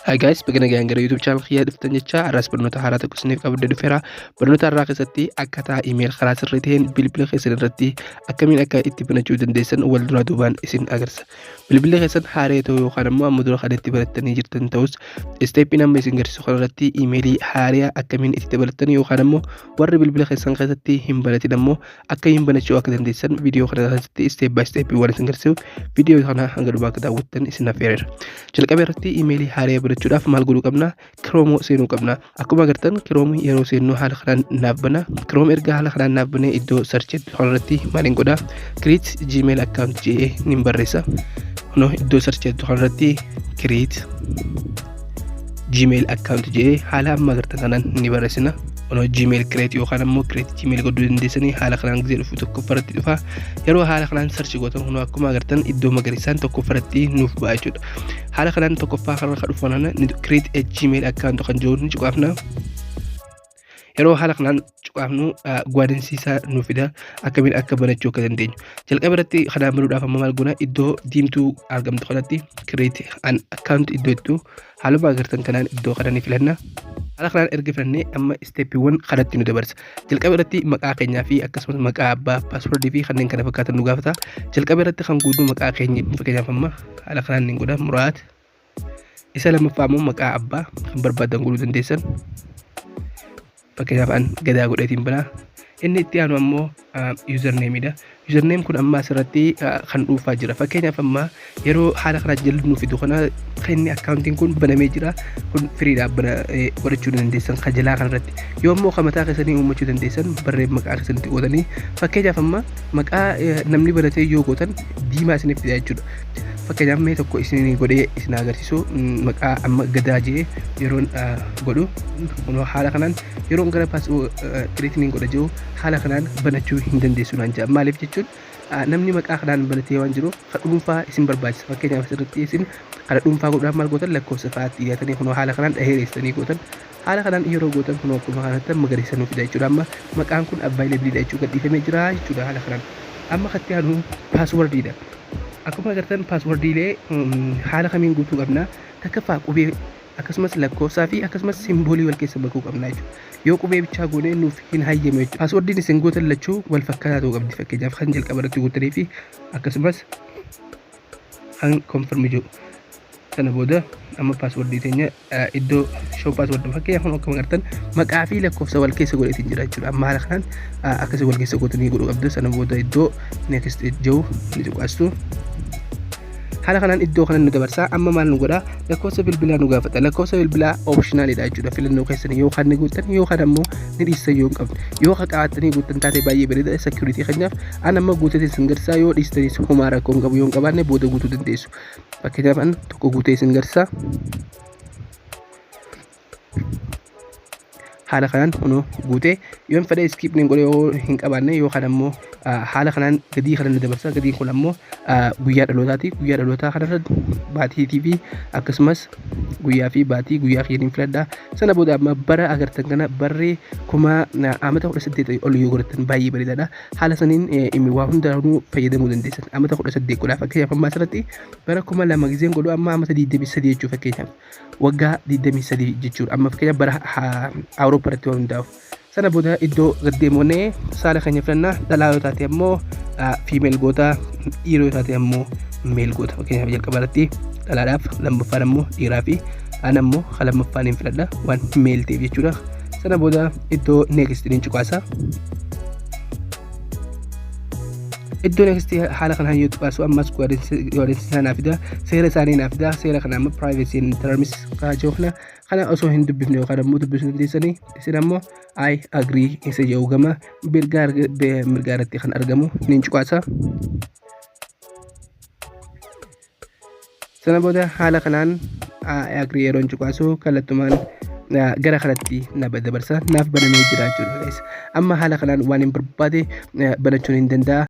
Hi guys, baga nagaan gara YouTube channel kiyyaa dhuftan jecha har'as barnoota haaraa tokko isiniif qabadde dhufeera. Barnoota har'aa keessatti akkaataa email karaa sirrii ta'een bilbila keessan irratti akkamiin akka itti banachuu dandeessan wal duraa duubaan isin agarsiisa. Bilbilli keessan haaree ta'uu yookaan immoo amma dura kan itti barattanii jirtan ta'us isteeppiin amma isin garsiisu kana irratti imeelii haaraa akkamiin itti dabalatan yookaan immoo warri bilbila keessan keessatti hin baratin ammoo akkamiin banachuu akka dandeessan viidiyoo kana keessatti isteep baay isteep waan isin garsiisu viidiyoo kana hanga dhumaa akka daawwattan isin affeereera. Jalqaba irratti imeelii haaraa banachuudhaaf maal godhuu qabna? Kiroomoo seenuu qabna. Akkuma agartan kiroomoo yeroo seennu haala kanaan naaf bana. Kiroom erga haala kanaan naaf banee iddoo sarchi kanarratti maaliin godha? Create Gmail account jedhee nin barreessa. Kunoo iddoo sarchi kanarratti create gmail account jedhee haala amma agartan kanaan ni barreessina kunoo gmail create yookaan ammoo create gmail godhuu dandeessanii haala kanaan gisee dhufu tokkoffaa irratti dhufa yeroo haala kanaan sarchi gootan kunoo akkuma agartan iddoo magariisaan tokkoffaa irratti nuuf ba'a jechuudha haala kanaan tokkoffaa kanarra kan dhufu kanaan create a gmail account kan jiru ni cuqaafna Yeroo haala kanaan cuqaafnu gwaadinsiisaa nu fida akkamiin akka banachuu akka dandeenyu. Jalqaba irratti kanaan banuudhaaf amma maal goona iddoo diimtuu argamtu kanatti kireeti an akkaawunti iddoo jettu haaluma agartan kanaan iddoo kana ni filanna. Haala kanaan erga filannee amma isteeppiiwwan kanatti nu dabarsa. Jalqaba irratti maqaa keenyaa fi akkasumas maqaa abbaa paaswordii fi kanneen kana fakkaatan nu gaafata. Jalqaba irratti kan guutuu maqaa keenya fakkeenyaaf amma haala kanaan ni godha muraat. Isa lammaffaa immoo maqaa abbaa kan barbaadan godhuu dandeessan. Fakkeenyaaf an gadaa godheetiin banaa. Inni itti aanu ammoo username dha. Username kun amma asirratti ah, kan dhuunfaa jira. Fakkeenyaaf amma yeroo haala kanaa jalli nu fidu kana kan inni akkaawuntiin kun banamee jira. Kun firiidhaaf bana eh, godhachuu ni dandeessan kan jalaa kanarratti. Yoo immoo kan mataa keessanii uummachuu dandeessan barreen maqaa keessanitti qoodanii. Fakkeenyaaf amma maqaa eh, namni banatee yoo gootan diimaa isiniif fida jechuudha. fakkeenyaaf mee tokko isin godhee isin agarsiisu maqaa amma gadaa jee yeroon godhu kunoo haala kanaan yeroon gara paas kireetiniin godha jiru haala kanaan banachuu hin dandeessu naan jaa maaliif jechuun namni maqaa kanaan banatee waan jiruuf ka dhuunfaa isin barbaachisa fakkeenyaaf asirratti isin kana dhuunfaa godhuudhaaf maal gootan lakkoofsa fa'aatti dhiyaatanii kunoo haala kanaan dhaheereessanii gootan Haala kanaan yeroo gootan kunoo akkuma kanatti magariisa nuu fida jechuudha. Amma maqaan kun available dha jechuudha gadhiifamee jira jechuudha haala kanaan. Amma katti aanu password dha. Akkuma agartan password ilee haala kamiin guutuu qabna. Takkaffaa qubee akkasumas lakkoofsaa fi akkasumas simboolii wal keessa makuu qabna jechuudha. Yoo qubee bichaa goone nuuf hin hayyamu jechuudha. Passwordin isin gootan lachuu wal fakkaataa ta'uu qabdi. Fakkeenyaaf kan jalqaba irratti gootanii fi akkasumas an confirm jiru sana booda amma paaswordii teenya iddoo show paasword fakkeenyaaf amma akkuma agartan maqaa fi lakkoofsa wal keessa godheetiin jira jechuudha amma haala kanaan akkasii wal keessa gootanii godhuu qabdu sana booda iddoo next jiru ni cuqaastu haala kanaan iddoo kana nu dabarsaa amma maal nu godha lakkoofsa bilbilaa nu gaafata lakkoofsa bilbilaa optionaalidha jechuudha filannoo keessan yoo kan ni guuttan yoo kan ammoo ni dhiissan yoo hin qabne yoo kan qabattanii guuttan taate baay'ee bareeda security keenyaaf An amma guutee isin garsaa yoo dhiistanis homaa rakkoo hin qabu yoo hin qabaanne booda guutuu dandeessu. Fakkeenyaaf an tokko guutee isin garsaa. Haala kanaan kunoo guutee yoo hin fedhe iskiip niin godhe yoo hin qabaanne yookaan ammoo haala kanaan gadii kana ni dabarsa. Gadiin kun ammoo guyyaa dhalootaati. Guyyaa dhalootaa kanarra baatiitii fi akkasumas guyyaa fi baatii guyyaa keeniin filadha. Sana booda amma bara agartan kana barri kuma amata kudha saddeet ol yoo godhatan baay'ee bareedaadha. haala saniin imi waa hundaanuu fayyadamuu dandeessan amata kudha saddeet godhaa fakkeenyaaf ammaa asirratti bara kuma lama gizeen godhu amma amata digdamii sadii jechuu fakkeenyaaf waggaa digdamii sadii jechuudha amma fakkeenyaaf bara awurooppaa irratti waan hundaa'u sana booda iddoo gaddeemoonee saala keenya filannaa dhalaa yoo taate ammoo fiimeel goota dhiiroo yoo taate ammoo meel goota fakkeenyaaf jalqaba irratti dhalaadhaaf lammaffaan ammoo dhiiraa fi an ammoo kan lammaffaan hin filadha waan meel ta'eef jechuudha sana booda iddoo next jedheen cuqaasa iddoo next haala kanaan yoo cuqaasu ammas godaansi isaa naaf fida seera isaanii naaf fida seera kana amma privacy and terms kana jiru kana kana osoo hin dubbifne yookaan ammoo dubbisuu dandeessanii isin ammoo I agree isa jedhu gama mirgaa irratti kan argamu niin cuqaasa. Sana booda haala kanaan I agree yeroon cuqaasu kallattumaan ah, gara kanatti na dabarsa naaf banamee jira jechuudha guys. Amma haala kanaan waan hin barbaade ah, banachuun hin danda'a.